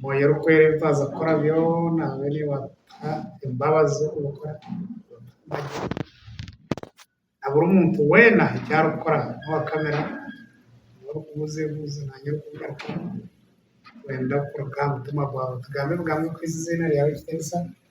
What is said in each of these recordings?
Mwoyo orikwera ebi twaza kukora byona abe niwe atuha embabazi z'okubikora. Na buri muntu weena eki arikukora n'owa kamera niwe orikubuuza ebibuuzo naanye orikubigarukamu. Twenda kuruga aha mutima gwawe tugambe ebigambo ebirikuhitsya eiziina ryawe ekitiinisa.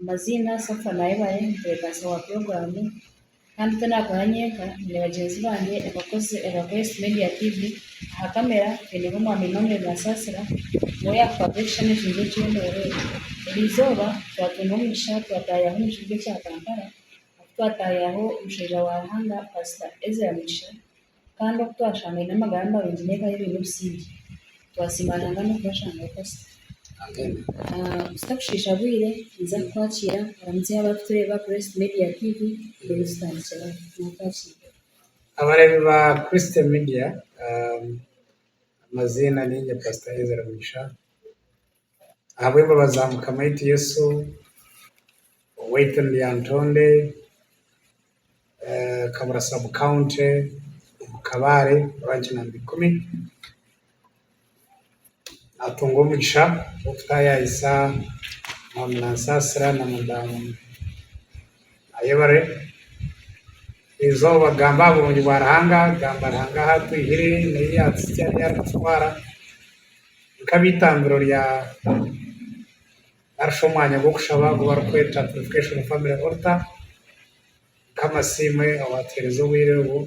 Amaziina Safa na Ebale nitubeeganisa owa puroguraamu kandi ti naakora nyenka, nyine bagyenzi bangye abakozi aba Quest Media TV. Aha kamera twineho Mwami Emmanuel Basaasira niwe yaakukwata ebishushani eki n'eky'endoora eki. Eri izooba twatungwa omugisha twataayaho omu kibuga ekya Kampala ahu twataayaho omushaija wa Ruhanga Paasita Ezra Mugisha Kandi oku twashanga baine amagara marungi n'obu bari baine obusingye, twasiima Ruhanga n'okubashangayo pasita. Tutakushiisha bwire, niza kukwakiira oramutse abarikutureeba aha Christ Media TV reero zitandikire aho. Naakwakiire. Abareebi ba Christ Media, amaziina niinye Pasita Ezra Mugisha. ahabw'embabazi za Mukama waitu Yesu owaitu ni Lyantonde Kabura sub county omu Kabale branch number ikumi natunga omugisha gw'okutayayisa Mwami Nansasira na Madamu Ayebare izooba kugamba aha burungi bwa Ruhanga kugamba Ruhanga ahu atwihire n'eyi yatukutwara. nk'abeitambiro rya narishi omwanya gw'okushaba ogu barikweta Purifikashoni Famire Olita, nk'amasiimwe owatuheereza obwire obu,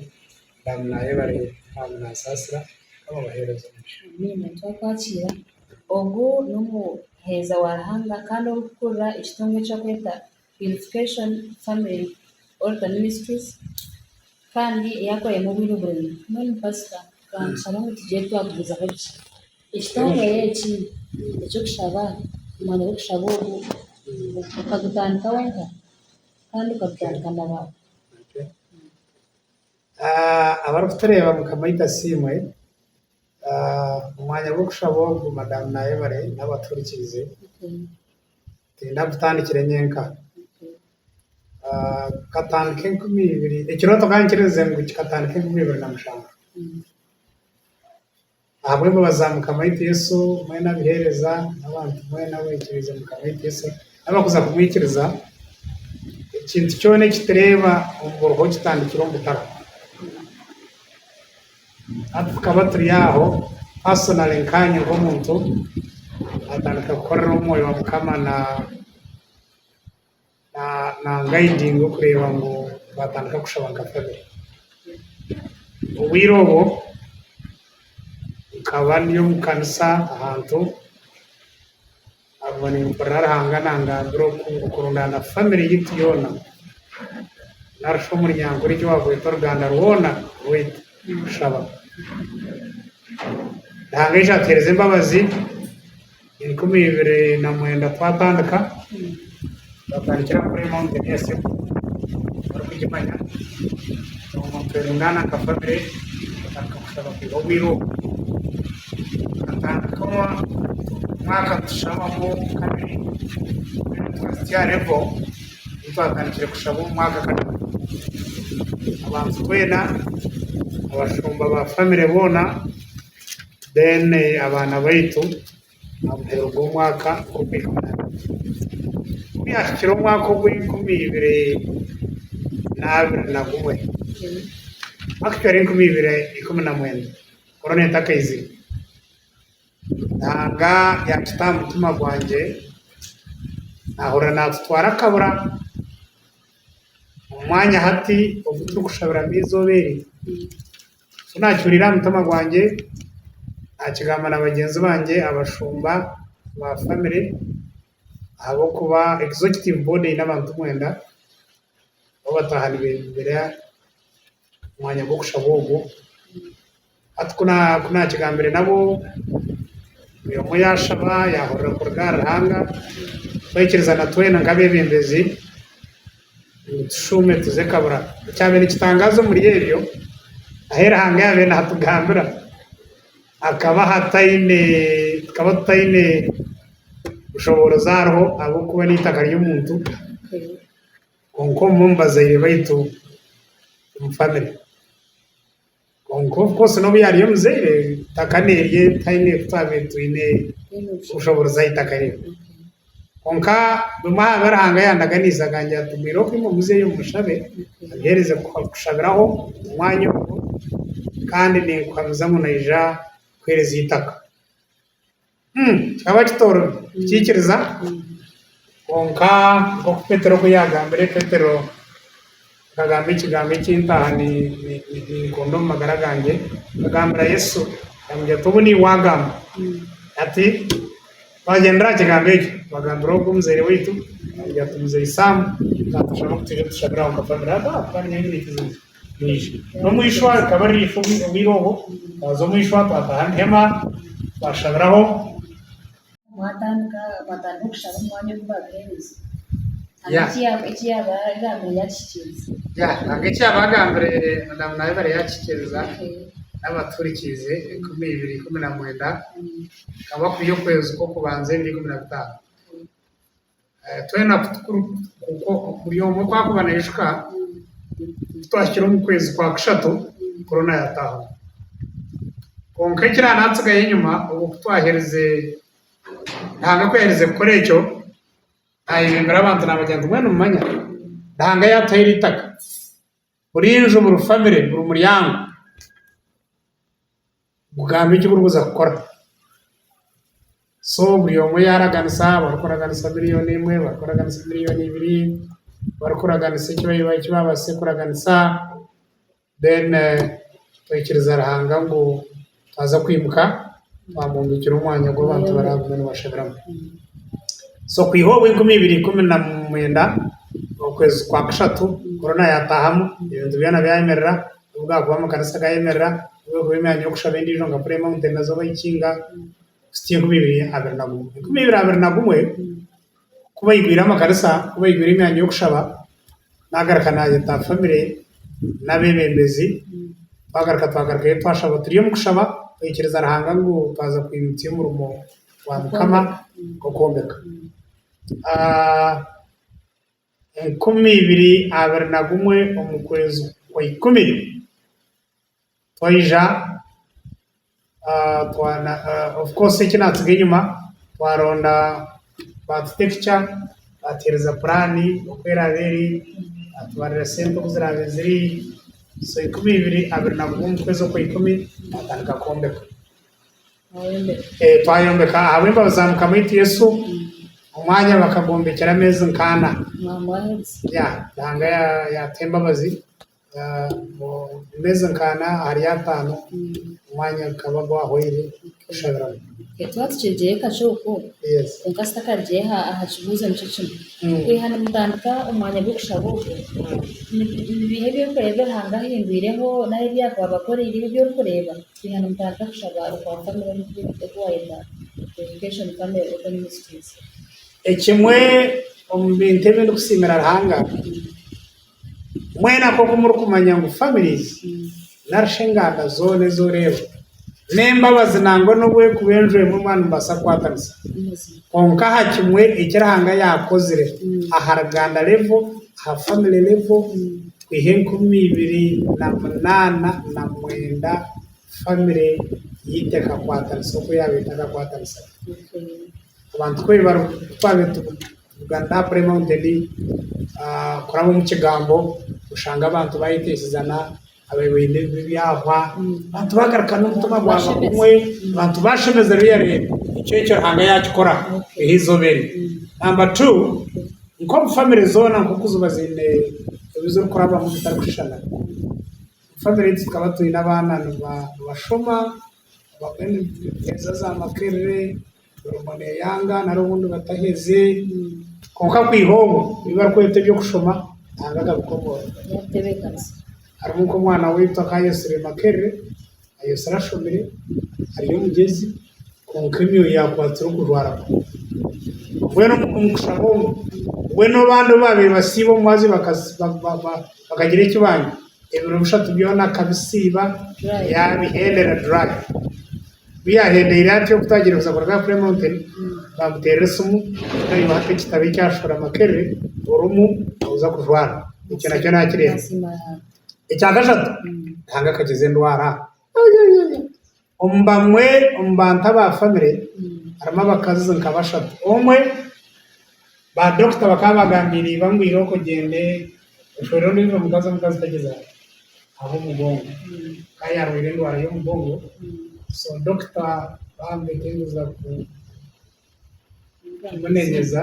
Mukama naayebarire kandi naasaasira. Mukama abaheereze omugisha. Amiina. Twakwakiira. Ogu n'omuheereza wa Ruhanga kandi orikukurira ekitongwa eki barikweta Education, Family or the Ministries kandi yakorayo obwire oburingwa. Mbwenu pasita kantushabe ngu tugyere twagumizaho gye. Ekitongore eki eky'okushaba, omwanya gw'okushaba ogu okagutandika wenka kandi okagutandika na baana. Abarikutureeba mukama ita asiimwe. Omu mwanya gw'okushaba ogu madamu naayebare naaba atuhurikirize, tiinyine kutandikire nyenka, nkatandika enkumi ibiri, ekirooto ka nkirize ngu kikatandika enkumi ibiri na mushanju, ahabw'embabazi za Mukama waitu Yesu mbwenu abuheereza n'abantu mbwenu abeikiriize Mukama waitu Yesu n'abakuza kumwikiriza, ekintu kyona eki tureeba omu buruho kitandikira omu butara. Hati tukaba turi aho, personally nkaanye nk'omuntu, natandika kukorera omu Mwoyo wa Mukama na na na anguidinga okureeba ngu twatandika kushaba nka family. Obwire obwo nkaba ndi omu kanisa ahantu, Ahabw'okuba nimpurira Ruhanga nangambira oku okurundaana family yaitu yoona nari shi omuryango ori gye wagweta oruganda rwoona rwaitu kushaba. Ruhanga aija atuhereza embabazi enkumi ibiri na mwenda twatandika. Twatandikira kuri Mountain ya Seku barikugimanya obwo nitweringaana nka famire twatandika kushaba kwiha obwire obwo tukatandika omwaka nitushabaho kabiri twena twahitsya aha revo ei twatandikire kushaba omu mwaka kataano abantu twena abashumba ba famire boona then abaana baitu Aha muheru gw'omwaka rukumi na kabiri, ku byahikire omwaka ogw'enkumi ibiri n'abiri na gumwe, omwaka gwa enkumi ibiri ikumi na mwenda, korona etakaizire, Ruhanga yaakita aha mutima gwangye, naahurira naatutwara akabura omu mwanya hati ogu turikushabiramu eizooba eri, Eki naakihuriire aha mutima gwangye, naakigamba na bagyenzi bangye abashumba ba famire, ahabw'okuba Executive Board eine abantu mwenda, nabo bataaha nibeebumbira omwanya gw'okushaba ogwo. Hati ku naakigambire nabo, buri omwe yaashaba, yaahurira kuruga aha Ruhanga, twikiriza na twena nk'abeebembezi. Ngu tushuume tuze kabura. Ekyabaire nikitangaaza omuri ebyo, ahu Ruhanga yaabaire naatugambira hakaba hataine, tukaba tutaine bushoboorozi ahariho ahabw'okuba n'eitaka ry'omuntu, kwonka omwe omu bazaire baitu omu famire. Kwonka obu Kosi n'obu yaaryo omuzaire, itaka n'erye tihaine ku twabaire twine kushobooroza aha itaka rye. Kwonka bimwe aha bi Ruhanga yaandaganiise akangira ati bwire oku imwe muzeyo mushabe, abiheereze kushabiraho omu mwanya ogwo, kandi ninkuhamiza ngu naija kukuheereza eitaka. Kikaba kitoromi kukiikiriza, kwonka nk'oku Petero oku yaagambire, Petero akagamba ekigambo eki ntaaha ninkunda omu magara gangye, akagambira Yesu ati, Obu niiwe waagamba ati, Twagyendera aha kigambo ekyo twagambira ogwo omuzaire waitu, ati, Muzei Saamu, naatushaba ku twije tushabire aho nka famire. Bwije. N'omwishwa rikaba riri ifa obwire obwo, baaza omwishwa, baataha omu hema, baashabiraho. Mwatandika, baatandika okushaba omu mwanya ogu baabuheereza. Hanga Yeah. eki ya- eki yaaba yagambire yaakihikiriza. Ya, hanga eki yaaba agambire Madamu Nabibare yaakihikiriza, n'abatuhurikiize enkumi ibiri ikumi na mwenda, Mm. hakaba kwiha okwezi kw'okubanza ebiro ikumi na bitaano. Twena buri omwe ku arikuba naijuka ku twahikire omu kwezi kwa kushatu korona yaataahamu. Kwonka ekiriba naatsigayo enyima obu ku twaherize, Ruhanga ku yaaherize kukora ekyo, naayebimbira abantu naagira ngu mbwenu mumanya Ruhanga yaatuhaire eitaka. Buri nju, buri famire, buri muryango gugambe eki gurikuza kukora. So buri omwe yaaraganisa, barikuraganisa miriyoni emwe, barikuraganisa miriyoni ibiri, barikuraganisa eki baabaasize kuraganisa, then twikiriza Ruhanga ngu. Twaza kwimuka, twamwombekera omwanya ogu abantu baraagume nibashabiramu. So kwiha obu enkumi ibiri ikumi na mwenda okwezi kwa kashatu korona yaataahamu, ebintu byona byayemerera, n'obu gaakuba amakanisa gaayemerera, n'obu erikuba emyanya y'okushaba endiijo nka Prayer Mountain na Zoba Ikiinga, kusitya enkumi ibiri abiri na gumwe. Enkumi ibiri abiri na gumwe, ku baigwire amakarisa, ku baigwire emyanya y'okushaba, naagaruka naayeta famire n'abeebembezi, twagaruka twagarukayo twashaba turi omu kushaba, twikiriza Ruhanga ngu twaza kwimutsya omurimo gwa Mukama gw'okwombeka. Enkumi ibiri abiri na gumwe omu kwezi kwa ikumi, twaija of course eki natsiga enyima twaronda batuta epicha batuhereza puraani oku eraabe eri batubarira sente oku ziraabe ziri so ikumi ibiri abiri na gumwe omu kwezi okwa ikumi twatandika kwombeka twayombeka ahabw'embabazi za mukama waitu yesu omwanya bakagwombekyera ameezi nka ana ya Ruhanga yatuha embabazi Emeezi nka ana ahari ataano, omwanya gukaba gwahwaire kushabiramu. Twaba tukirugire eka kyokwo, kwonka si takarugire aha kibuuzo nikyo kimwe. Kwiha nimutandika omwanya gw'okushaba ogwo, ni biiha ebyokureba ebi Ruhanga ahindwireho nari ebi yakuba abakoreire ebi orikureeba kwiha nimutandika kushaba okwa famire omu bi oku waayeta education famire oba ministries? Ekimwe omu bintu ebi ndikusiimira Ruhanga. Mwena nk'oku murikumanya ngu families narishi enganda zoona ezi oreeba n'embabazi nangwa n'obu erikuba enju emwe mbwenu nimubaasa kukwatanisa. Kwonka aha kimwe eki Ruhanga yaakozire aha ruganda level, aha family level kwiha enkumi ibiri na munaana na mwenda family ei tekakwatanisa oku yaaba etakakwatanisa gye. Abantu ku bari ku twaabaire tu. Tugataaure Mountain kuraba omu kigambo oshange abantu bayeteesizana ababoine ebyahwa abantu bagaruka n'omutima gwaba gumwe abantu bashemezerwa eyareebwa ekyo ekyo Ruhanga yakikora eha izooba eri namba tu nk'omu famire zoona nk'oku ziba ziine ebi zirikurabamu bitarikushushana famire egi tukaba twine abaana nibashoma baine emiteekyereza za makerere Obumwe neyanga nari obundi bataheze kwonka kwiha obwo ebibarikweta ebyokushoma Nanga akabikomoora harimu nkomwana waitu akayetsire Makerere ayetsire ashomire ari omugyezi kwonka emyoyo yakwatsire okurwara kubi mbwenu omukushaba omu mbwenu abandi obubabire basiiba omubazyo bakagira ekibanja ebiro bishatu byona akabisiiba yabihendera dry. Ku yaahendeire atyo kutaagiire kuza kuruga aha Prayer Mountain, baamuteera esimu naiwe hati ekitabo eki Ashura Makerere orimu nooza kujwara. Ekyo nakyo naakireeba. Ekya kashatu, Ruhanga akakiza endwara. Ayayaya! Omu bamwe omu bantu aba famire harimu abakazi nka bashatu. Omwe. Ba dokita bakaba bagambiire iba ngu ira okogyende oshwere ondiijo mukazi omukazi tagyezaho ahabw'omugongo ka yarwaire endwara y'omugongo so dokita bamutetenguza ku kumunenyeza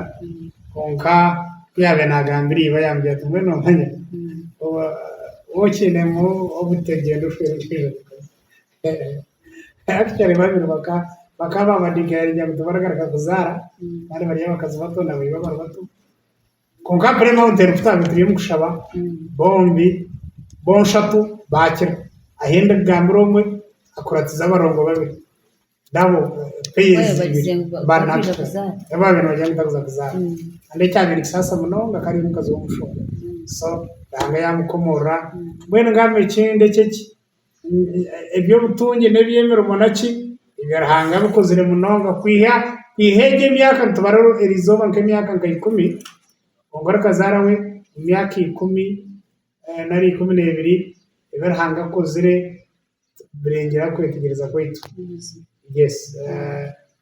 kwonka ku yaabaire nagambira iba yamubwira ati mbwenu omanya oba okyinemu obute gyenda oshwere ondiijo mukazi. Actually babiri baka bakaba babadigayaringa ngu tibaragaruka kuzaara kandi bari abakazi bato na baiba bari bato kwonka aha Prayer Mountain ku twabire turi omu kushaba bombi bonshatu baakira ahi ndikugambira omwe akuratize abarongo babiri nabo pairs ibiri bari natural nabo babire nibagira ngu tarikuza kuzaara kandi ekyabire nikisaasa munonga akaba ari omukazi w'omushumba so Ruhanga yaamukomoorora mbwenu ngamba ekindi eky'eki eby'obutungi n'eby'emirimo naki ebya Ruhanga abikozire munonga. Kwiha kwiha egyo emyaka nitubara erizooba nk'emyaka nka ikumi, kwonka orikazaara we emyaka ikumi nari ikumi n'ebiri ebi Ruhanga akozire nibirengyera kwetegyereza kwaitu. Yes.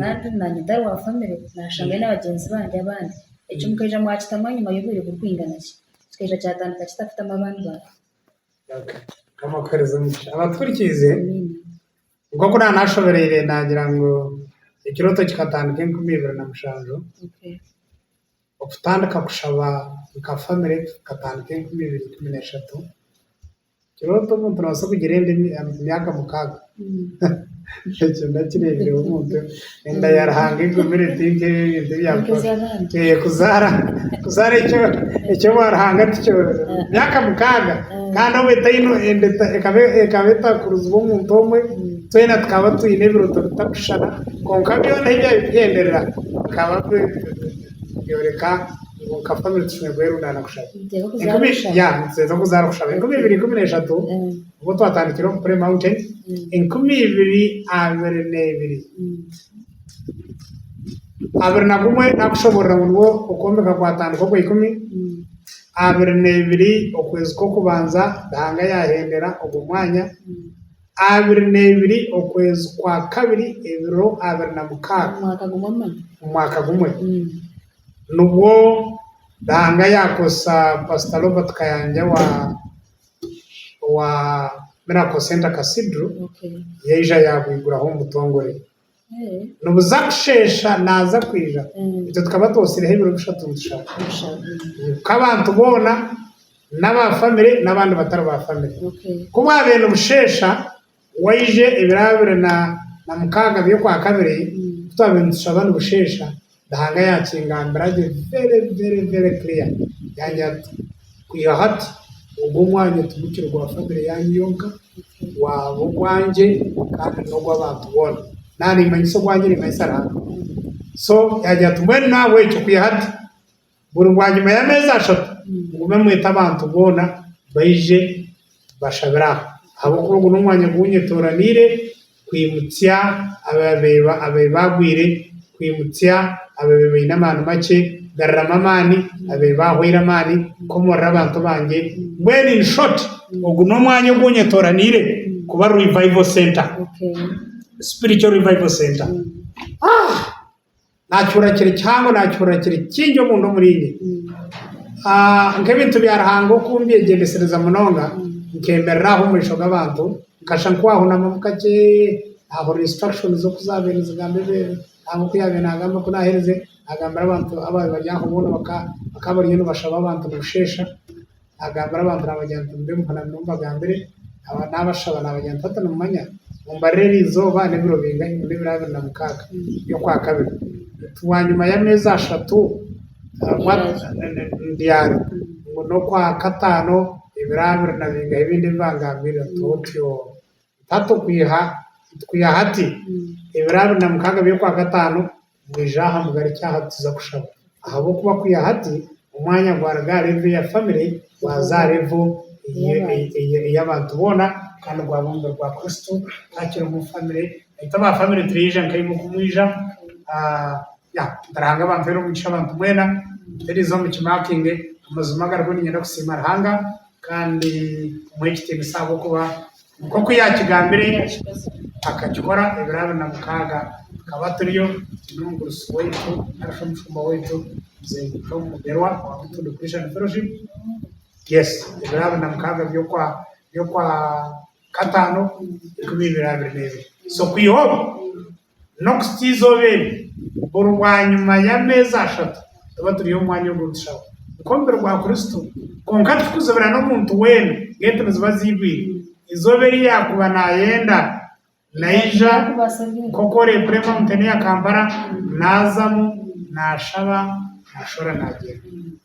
Kandi na nyidara wa famire nashanga aine abagyenzi bandi abandi. Ekyo mukaija mwakitamu ahanyima y'obwire burikwingana ki? Kikaija kyatandika kita kutamu abandi bantu? Okay. Mukama akuhereze omugisha. Abatuhurikirize, Amiina. nk'oku naaba nashobereire naagira ngu ekirooto kikatandika enkumi ibiri na mushanju, Okay. okutandika kushaba nka famire kukatandika enkumi ibiri ikumi n'eshatu. Nikirooto omuntu nabaasa kugira enda emyaka mukaaga? Ekyo ndakireebireho omuntu enda ya Ruhanga egumire ti nk'ebintu ebya kuzaara kuzaara ekyo ekyo obwa Ruhanga tikyo myaka mukaaga kandi obu etaine enda ekaba ekaba etakurizibwe omuntu omwe twena tukaba twine ebirooto bitakushushana kwonka byona ebi ebyaba bikugenderera bikaba bi. Yoreka ngu nka famire tushemeriire kuba erundaana kushaba. Nituteera okuzaara orikushaba. Ya, nituteeza okuzaara kushaba. Enkumi ibiri ikumi n'eshatu, obwo twatandikire omu Prayer Mountain, enkumi ibiri abiri n'ebiri. Abiri na gumwe nakushoboorora ngu nigwo okwombeka kwatandika okwa ikumi, abiri n'ebiri okwezi kw'okubanza Ruhanga yahendera ogwo mwanya, Abiri na ibiri okwezi kwa kabiri ebiro abiri na mukaaga, omwaka gumwe, nibwo Ruhanga yaakozesa Pasita Robert Kayanja owa Miracle Centre Cathedral, yaija yaagwiguraho omu butongore. Nibuza kusheesha naaza kwija. Itwe tukaba twotsireho ebiro bishatu nitushaba. Ku abantu boona n'aba famire n'abandi batari ba famire. Ku bwabaire nibusheesha, waija ebiro abiri na mukaaga by'okwakabiri, ku twabaire nitushaba nibusheesha, Ruhanga yaakingambira gye very very very clear yaangira ati, kwiha hati ogu omwanya tigukiri gwa family yaanyu yonka, gwaba ogwangye kandi n'ogw'abantu boona. Naaba niimanyisa ogwangye niimanyisa Ruhanga. So yaagira ati mbwenu nahabw'ekyo kwiha hati, Buri bwanyima y'ameezi ashatu, mugume mwete abantu boona baije bashabire aha, ahabw'okuba ogu n'omwanya ogu nyetooraniire kwimutsya abaabaire baagwire, kwimutsya abaabaire baine amaani makye, kugaruramu amaani abaabaire baahwaire amaani, kukomorera abantu bangye, mbwenu in short ogu n'omwanya ogu nyetooraniire kuba revival center, spiritual revival center. Naakiurira kiri kihango, naakiurira kiri kingi omunda omuriinye. Nk'ebintu bya Ruhanga oku mbyegyendesereza munonga, nkemerera aho omumaisho g'abantu, nkasha nkwahunamumu kakye, naahurira instructions oku zaabaire nizigamba ebweeru, nangwa oku yaabaire naagamba ku naaherize, naagambira abantu abaabaire bari aho boona, bakaba bariyo nibashaba abantu nibusheesha. agambira abantu naabagira nti, Mube muhonami niho mbagambire, naabashaba naabagira nti, Hati nimumanya, mumbarire eri izooba n'ebiro bingahi ngu n'ebiro abiri na mukaaga by'okwa kabiri, nti bwanyima y'ameezi ashatu mbyare, ngu n'okwa kataano ebiro abiri na bingahi ebindi ebi bangambiire, nti otyo, nti hati okwiha hati ebiro abiri na mukaaga by'okwa kataano. Mwije aha, mugarukye aha tuza kushaba. Ahabw'okuba kwiha hati, omwanya gwaruga aha revo eya famire gwaza aha revo ey'abantu boona, kandi gwaba omubiri gwa Kristo, twakira omu famire, beitu aba famire tureija nk'aimwe oku mwija, ya, Ruhanga abampere omugisha abantu mwena, tutereize omu kimakinge amazima agariho niinyenda kusiima Ruhanga. Kandi muhe ekitiinisa ahabw'okuba nk'oku yaakigambire, akakikora ebiro abiri na mukaaga. Tukaba turiyo twine omugurusi waitu nari shi omushumba waitu Muzei Tom Mugerwa owa Mutundwe Christian Fellowship. Yes, ebiro abiri na mukaaga by'okwa by'okwa kataano enkumi ibiri abiri n'ebiri. So kwiha obu? N'okuhitsya eizooba eri, buri bwanyima y'ameezi ashatu tuba turi omu mwanya ogu nitushaaba nk'omubiri gwa Kristo. Kwonka tirikuzibira n'omuntu weena, ng'entu niziba ziigwire. Eizooba eri yaakuba naayenda, naija nk'oku oreekura emawunteeni ya Kampala, naazamu, naashaba, naashwera, naagyenda.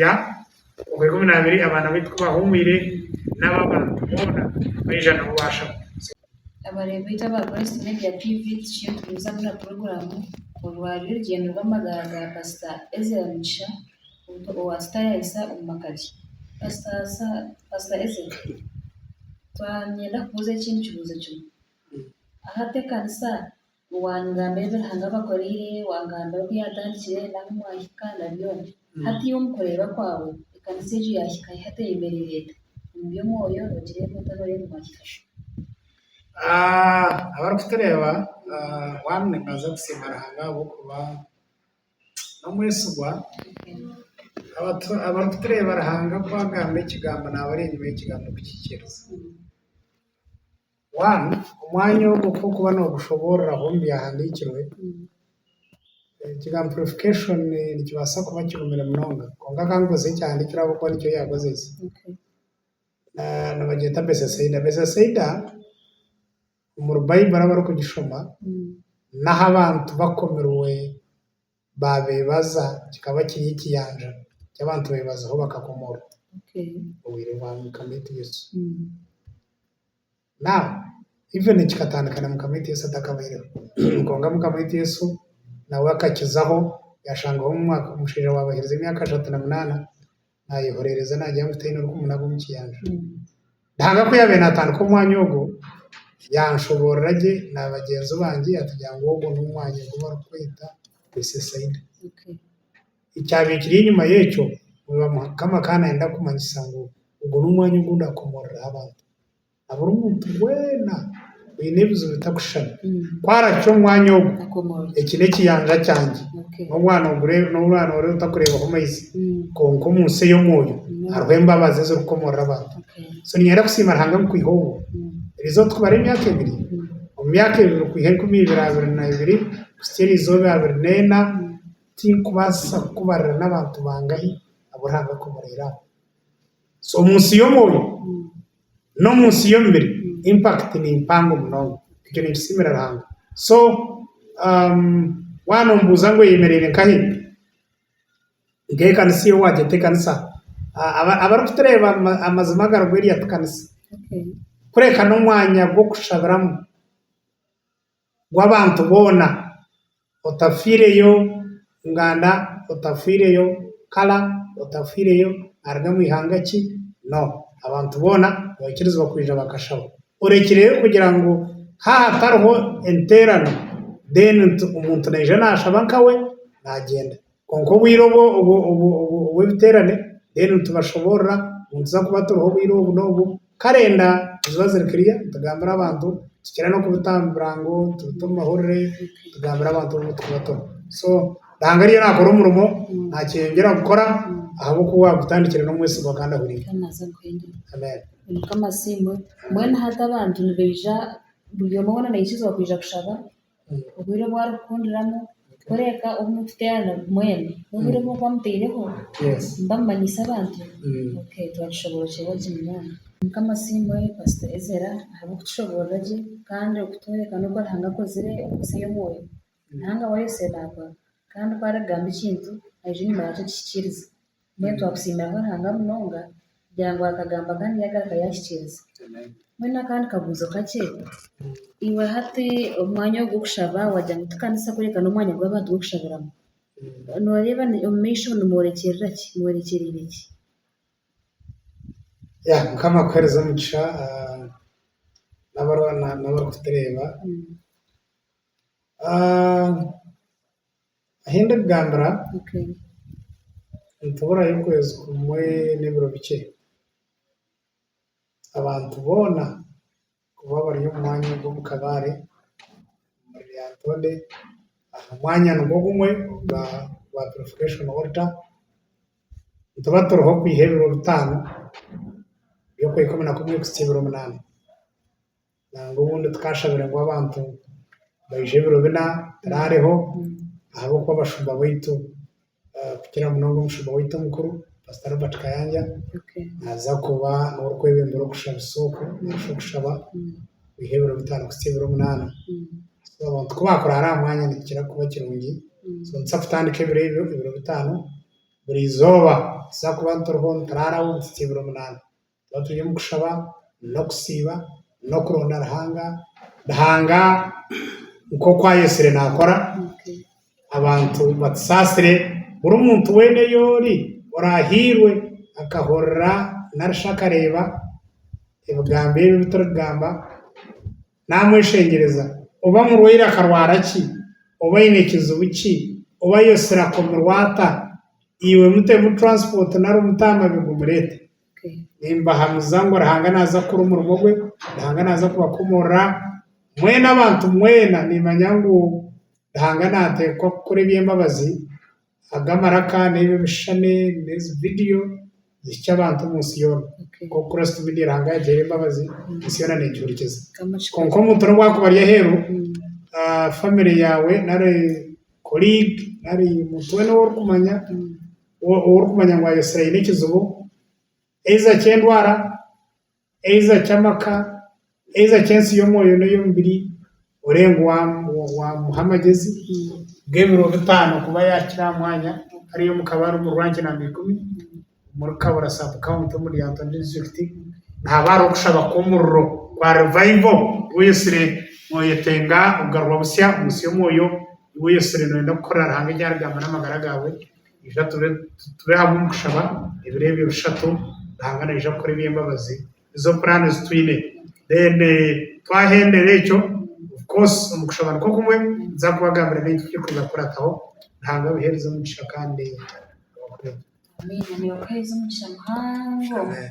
Ya, omu ikumi n'abiri abaana baitu ku baahumwire, nabo abantu boona baija nabo baashaba. Abareebi baitu aba Christ Media TV tukiije kugumiza kukora puroguramu orwari orugyendo rw'amagara ga Pasita Ezra Mugisha owaasita yaahisa omu maka ge. Pasita Pasita Ezra, twanyenda kubuuza ekintu kibuuzo kimwe. Ahu ateekanisa Waangamba ebi Ruhanga abakoreire, waangamba oku yaatandikire n'ahu mwahika na byona. Hati omu kureeba kwawe, ekanisa egyo yaahika hi hati eyemereire eta? Omu by'omwoyo noogireeba ota nooreeba mwahika shi? Abarikutureeba, Waaba nimbaasa kusiima Ruhanga ahabw'okuba n'omwesigwa. Abarikutureeba, Ruhanga ku agamba ekigambo naaba ari enyima y'ekigambo kukikiriza. One, Omwanya ogwo ku orikuba noogushoboororeraho omu byahandiikirwe, ekigambo purification nikibaasa kuba kirumire munonga. Kwonka ka nkozese ekyahandiikirwe ahabw'okuba nikyo yaakozese. Nibagyeta Besesaida. Besesaida omuri Baiburi abarikugishoma, n'ahu abantu bakomirwe baabeebaza kikaba kiri ekiyanja ky'abantu beebazaho bakakomorwa obwire bwa Mukama eitu Yesu. Now, even kikatandika na Mukama eitu Yesu atakabaireho kwonka Mukama eitu Yesu nawe akakizaho yaashangaho omushaija waabaheereza emyaka ashatu na munaana naayehoreereza naagira ngu taine orikumunaga omu kiyanja. Ruhanga ku yaabaire naatandika omwanya ogwo, yaanshoboorora gye na bagyenzi bangye yatugambira ngu ogwo n'omwanya ogu barikweta Besesaida. Ekyabaire kiri enyima y'ekyo, Mukama akaba naayenda kumanyisa ngu ogwo n'omwanya ogu ndaakomoreraho abantu. Buri muntu weena oine ebizibu bitakushushana. Ku aracwa omwanya ogu, eki n'ekiyanja kyangye. N'omwana oriya otarikureebaho maizi. Kwonka omu nsi ey'omwoyo hariho embabazi ezirikukomorera abantu. So niinyenda kusiima Ruhanga ngu kwiha obu, eri izooba tikubara emyaka ebiri, omu myaka ebiri kwiha enkumi ibiri abiri na ibiri kuhitsya eri izooba abiri n'ena, tinkubaasa kukubarira n'abantu bangahi abu Ruhanga akomoreire aho. So omu nsi y'omwoyo n'omu nsi y'omubiri impact ni mpango munonga. Ekyo ninkisiimira Ruhanga. So waaba nombuuza ngu eyemereire nkahi? Nk'eyi kanisa ei waagyeta ekanisa. Abarikutureeba amazima agari bwenu erya tikanisa. Kureka n'omwanya gw'okushabiramu. gw'abantu boona, otafiireyo nganda, otafiireyo kara, otafiireyo aruga omu ihanga ki, no, abantu boona nibakirizibwa kwija bakashaba. Orekireyo kugira ngu haaba hatariho enterano, then omuntu naija nashaba nkawe nagyenda. Kwonka obwire obwo obw'ebiteerane, mbwenu nitubashoboorora ngu nituza kuba turiho obwire obu n'obu, kare enda niziba ziri kiriya, nitugambira abantu, tukira n'okubitambira ngu tubite omu mahurire, tugambire abantu obu turikuba turi. So, Ruhanga ariyo naakora omurimo, naakyeyongyera kukora, ahabw'okuba owaagutandikire n'omwesigwa kandi ahuriire. Amen. Mukama asiimwe. Mbwenu hati abantu nibaija, buri omwe weena naija kushaba? Obwire obu arikukundiramu kureka obu murikuteerana mwena, n'obwire obu murikuba mutaireho nimuba mumanyise abantu. Okay, twaakishoboorokyerwa gye munonga. Mukama asiimwe Pastor Ezra ahabw'okutushoboorora gye kandi okutworeka n'oku Ruhanga akozire omu nsi ey'omwoyo. Ruhanga waayosya naagwa kandi ku arikugamba ekintu, aija enyima yaakyo akihikiiriza. Mbwenu twakusiimira Ruhanga munonga kugira ngu akagambo aka nigagaruka yahikiriza. Mbwenu akandi kabuuzo kakye, iwe hati omwanya ogu gw'okushaba wagira ngu ti kanisa kureka n'omwanya ogu abantu barikushabiramu. Noreeba omu maisho nimworekyerera ki? Mworekyereire ki? Ya mukama akuhereze omugisha nabari nabari kutureeba Ahi ndikugambira nituburaayo okwezi kumwe n'ebiro bikye, abantu boona kuba bari omu mwanya ogu omu kabare omuri Lyantonde aha mwanya nigwo gumwe ogwa purifikashoni wolita, nituba turiho kwiha ebiro bitaano, eby'okwezi kwa ikumi na kumwe kuhitsya ebiro munaana. nangwa obundi tukashabire ngu abantu baije ebiro bina turareho ahabw'okuba abashumba baitu kukira munonga omushumba waitu omukuru Pastor Robert Kayanja naza kuba niwe orikwebembera okushabisa okwo nari shi okushaba kwiha ebiro bitaano kuhitsya ebiro munaana. So abantu ku baakurara aha mwanya nikikira kuba kirungi so nituza kutandika ebiro ebyo ebiro bitaano buri izooba tuza kuba turiho nituraaraho kuhitsya ebiro munaana. Twaba turi omu kushaba n'okusiiba n'okuronda Ruhanga, Ruhanga nk'oku ayetsire naakora, abantu batusaasire, buri muntu weena ou ori oraahairwe akahurira nari shi akareeba ebigambo ebi ebi turikugamba, naamweshengyereza, oba murwaire akarwara ki, oba aine kizibu ki, oba ayetsire akomirwe ata, iwe mutemu turaasipooti nari omute aha mabega omureete. Nimbahamiza ngu Ruhanga naaza kukora omurimo gwe, Ruhanga naaza kubakomorora mwena abantu mwena nimanya ngu Ruhanga nateekwa kukora eby'embabazi aga amaraka n'ebi ebishushani n'ezi vidiyo zihikye abantu omu nsi yoona nk'oku Kristo Media Ruhanga yagire embabazi ensi yoona negihurikiza. Kwonka omuntu n'obu arikuba ari aheeru famire yaawe nari koriigi nari omuntu weena ou orikumanya ou orikumanya ngu ayeesire aine ekizibu, eiza ky'endwara, eiza ky'amaka, eiza ky'ensi y'omwoyo n'ey'omubiri, orebe ngu waamuha amagezi g'ebiro bitaano kuba yaakira aha mwanya hariya omu kabare omu ranki namba ikumi omuri Kabura saabukawunti omu Lyantonde disiturikiti, nihaba hariho okushaba kw'omuriro kwa rivaivo ku oyeesire nooyetenga kugarurwa busya omu nsi y'omwoyo, ku oyeesire nooyenda kukorera Ruhanga ebyaragaamba n'amagara gaawe. Ija tube tube hamwe omu kushaba ebiro ebyo bishatu, Ruhanga naija kukora eby'embabazi nizo plan ezi twine. Then twahendera ekyo, of course omu kushaba nikwo kumwe ninza kubagambira n'ebintu ebituri kwija kukurataho. Ruhanga abahereze omugisha kandi abakureete. Amiina. Nibakuheereza omugisha muhango. Amen.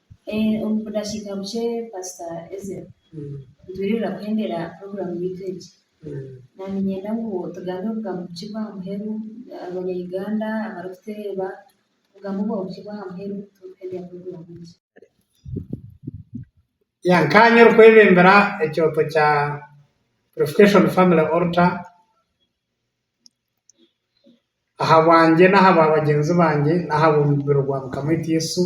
Omu budakiika bukye Paasita Ezra, nitwirira kuhendera puroguraamu yaitu egi. Niinyenda ngu tugambe obugambo bukye bw'aha muheru, Abanyayuganda abarikutureeba, obugambo bwabo bukye bw'aha muheru turikuhendera puroguraamu egi. Nkaanye orikwebembera ekyoto kya Purification Family Altar, aha bwangye n'aha bwa bagyenzi bangye n'aha b'omurimo gwa Mukama waitu Yesu,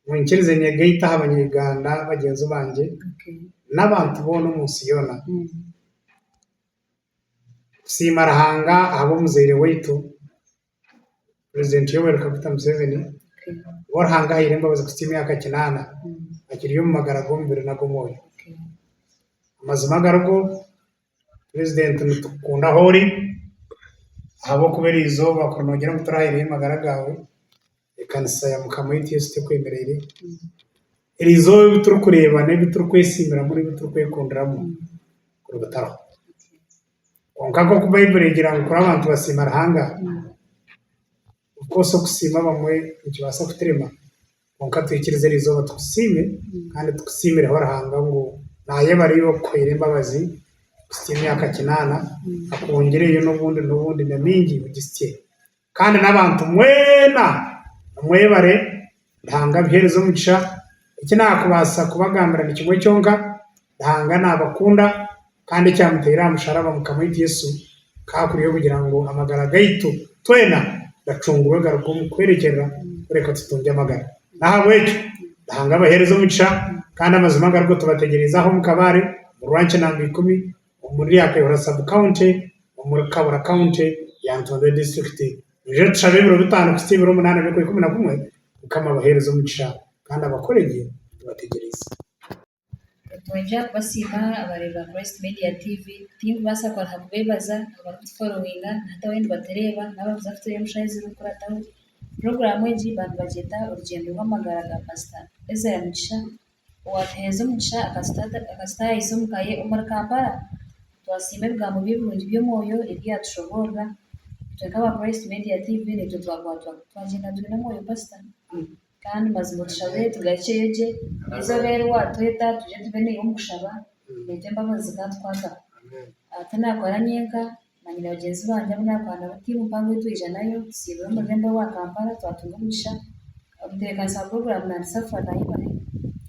ngu nkirize nyegaite aha Banya-Uganda bagyenzi bangye n'abantu boona omu nsi yoona. Kusiima Ruhanga ahabw'omuzaire waitu. President Yoweri Kaguta Museveni owa Ruhanga ahaire embabazi kuhitsya emyaka kinaana akiriyo omu magara g'omubiri n'ag'omwoyo. Amazima agarigo, President nitukukunda ahu ori ahabw'okuba eri eizooba kuri noogira ngu turahayireyo amagara gaawe. Ekanisa ya Mukama waitu Yesu tekwemereire. Eri izooba ebi turikureeba n'ebi turikwesiimiramu n'ebi turikwekundiramu kuruga tariho. Kwonka nk'oku Baibuli egira ngu kuri abantu basiima Ruhanga, of course okusiima abamwe nikibaasa kuturema, kwonka twikirize eri izooba tukusiime kandi tukusiimireho Ruhanga ngu naayebare iwe okukuhaire embabazi kuhitsya emyaka kinaana, akwongireyo n'obundi n'obundi na mingi ogitsye Kandi n'abantu mwena nimwebare Ruhanga abiheereze omugisha. Eki naakubaasa kubagambira ni kimwe kyonka, Ruhanga naabakunda kandi ekyamuteire aha musharaba Mukama waitu Yesu kaakuriho kugira ngu amagara gaitu twena gacungurwe garuge omu kwerekyerera kureka tutungye amagara. N'ahabw'ekyo Ruhanga abaheereze omugisha kandi amazima garuge tubategyereize aho omu kabaare omu Rwankina namba ikumi. omuri Ryakebera Sub County, omuri Kabura County, Lyantonde District. Nibyo tushabe ebiro bitaano kuhitsya ebiro munaana by'okwezi kumi na kumwe, Mukama abahereze omugisha kandi abakore gye tubategyereize. Nitwongera kubasiima abareeba Christ Media TV. Tinkubaasa kwanguha kubeebaza abarikutuforowinga na hati abandi batureeba n'abakuza kutureeba omu shaaha ezirikurataho. Puroguraamu egi baanibagyeta Orugyendo rw'Amagara ga Pasita Ezra Mugisha owatuheeza omugisha akatutaayisa omu ka ye omuri Kampala. Twasiima ebigambo bye birungi by'omwoyo ebi yaatushoboorora. Itwe nk'aba Christ Media TV naitwe twakwatwa twagyenda twine omwoyo pasita. Kandi mazima otushabire tugarukyeyo gye. Eizooba eri waatweta twije tube naiwe omu kushaba, naitwe embabazi zikaatukwataho. Tinaakora nyenka, Manyire bagyenzi bangye abu naakorana nabo tiimu mpango ei twaijanayo, tusiibura omu rurembo rwa Kampala twatunga omugisha omutebeekanisa wa puroguraamu naanisa kufa naayebare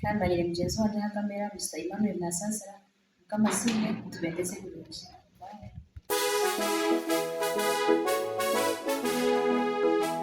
kandi manyire mugyenzi wangye aha kamera Mister Emmanuel Nasaasira Mukama asiimwe nitubeegyesa ebirungi.